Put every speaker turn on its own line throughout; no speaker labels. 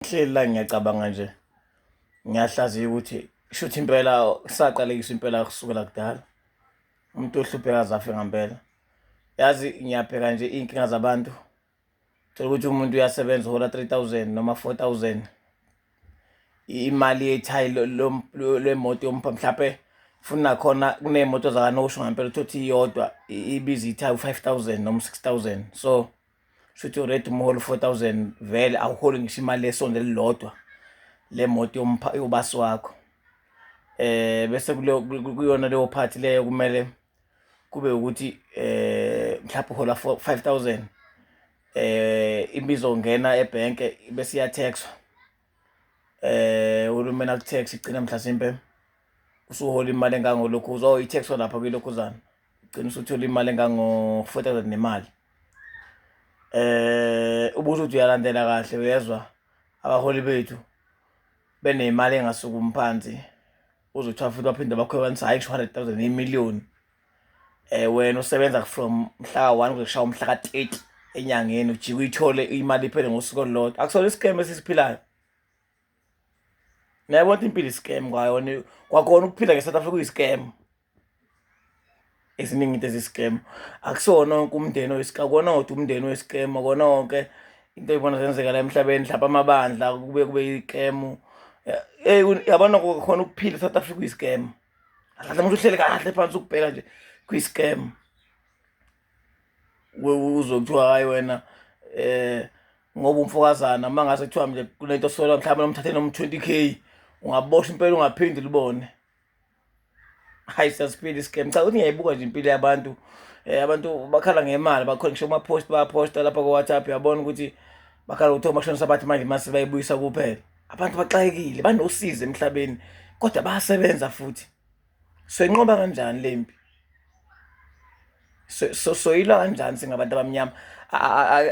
ngihleli la ngiyacabanga nje ngiyahlaziya ukuthi shuthi impela saqalekiswa impela kusukela kudala umuntu ohlupheka zafe ngampela yazi ngiyabheka nje iy'nkinga zabantu thola ukuthi umuntu uyasebenza uhola 3000 noma 4000 imali yethayi lwemoto yompha mhlawumpe futhi nakhona kuney'moto zakanosho ngampela uthi iyodwa ibiza ithayi u-five thousand noma u-six thousand so shuthi ured umholo 4000 vele awuholi ngisho imali lesonto elilodwa le moto yobasi wakho eh bese kuyona leyo part leyo kumele kube ukuthi eh mhlawumbe uhola 5000 eh imizongena ebhenke bese iyathexwa eh uhulumeni akuthe sigcina mhlasimpe usuhola imali engangolokhu uzo i-tax olapha kwilokhuzana ugcina usuthola imali engango-four thousand nemali eh ubuthi uthi uyalandela kahle uyezwa abaholi bethu benemali engasukumi phansi uzothiwa futhi baphinde bakhwebanisa hhayi ngisho hundred thousand imiliyoni eh wena usebenza from mhla 1 kushaya umhla ka 30 enyangeni ujike uyithole imali iphele ngosuku olulodwa akusona iscam esisiphilayo nayabona ukuthi impilo iscam kwayona kwakhona ukuphila ngeSouth Africa uyiscam eziningi into eziscam akusona wonke umndeni oyiscam kona wodwa umndeni oyiscam kona wonke into ibona zenzeka la emhlabeni mhlawumbe amabandla kube kube yiscam eh yabona khona ukuphila eSouth Africa uyiscam kahle manje uhlele kahle phansi ukubheka nje kwi-scam uzwe kuthiwa hhayi wena um ngoba umfokazana uma ngase kuthiwa mnje kunento sola mhlawumbe nomthathe nomu-twenty k ungaboshwa impela ungaphinde libone hayi siyasiphila i-scam cha ukuthi ngiyayibuka nje impilo yabantu um abantu bakhala ngemali bakhona ngisho kuma-post bayaposta lapha ko-whatsapp uyabona ukuthi bakhala ukuthi omashonisa bathi manje mase bayibuyisa kuphela abantu baxakekile banosizi emhlabeni kodwa bayasebenza futhi soyinqoba kanjani le mpi so soyilwa kanjani singabantu abamnyama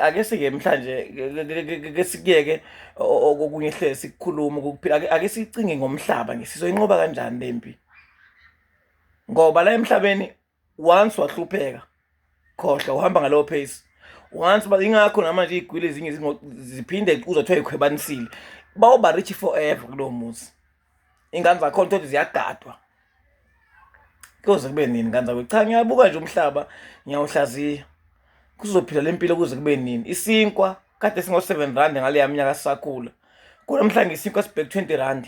ake sike mhlanje ke sikuyeke okunye hlezi sikukhuluma ukuphila ake sicinge ngomhlaba ngisizoyinqoba kanjani le mpi ngoba la emhlabeni once wahlupheka khohla uhamba ngalowo pace once ba ingakho namanje igwile ezinye ziphinde uzothiwa ikhwebanisile bawuba rich forever kulowo muzi ingane zakhona uthole ziyagadwa kuze kube nini ngane zakho cha ngiyabuka nje umhlaba ngiyawuhlaziya kuzophila le mpilo kuze kube nini isinkwa kade singo-seven rand ngaleya minyaka sisakhula kunamhlanje isinkwa sibheke twenty rand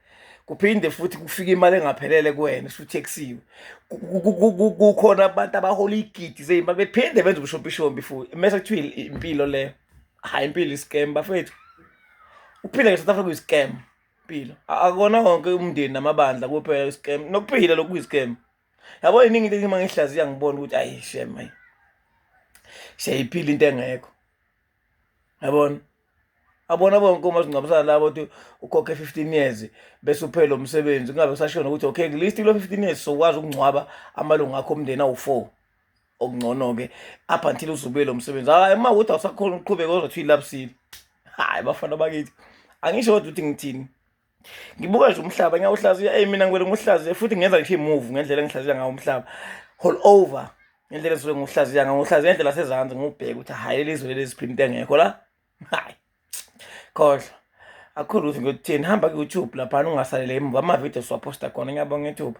kuphinde futhi kufike imali engaphelele kuwena usutheksiwe kukhona abantu abahola igidi zeyimali bephinde benze ubushopishombi futhi mese kuthiwa impilo leyo hhayi impilo iscam bafethu ukuphila nge-south africa uyiscam impilo akona wonke umndeni namabandla kuphela iscam nokuphila lokhu kuyiscam yabo yiningi into engima ngihlaziya ngibona ukuthi ayi shem ayi siyayiphila into engekho yabona abona bonke uma singcwabisana labo ukuthi ukhokhe 15 years bese uphele lo msebenzi kungabe kusashona ukuthi okay list kulo 15 years sokwazi ukungcwaba amalungu akho omndeni awu-4 okungcono-ke up until uzubuye lo msebenzi hayi uma ukuthi awusakhona ukuqhubeka ozothi uyilapsile hayi bafana bakithi angisho kodwa ukuthi ngithini ngibuka nje umhlaba ngiyawuhlaziya eyi mina ngibele ngiwuhlaziye futhi ngenza ngisho i-move ngendlela engihlaziya ngawo umhlaba hall over ngendlela esuke ngiwuhlaziya ngawo ngiwuhlaziya ngendlela sezansi ngiwubheke ukuthi hhayi leli zwe leli ziphinde into engekho la hayi khohlwa akukho lutho ngiyothini hamba ku-youtube laphana ungasalele emuva amavidiyo siwaposta khona ngiyabonga ithuba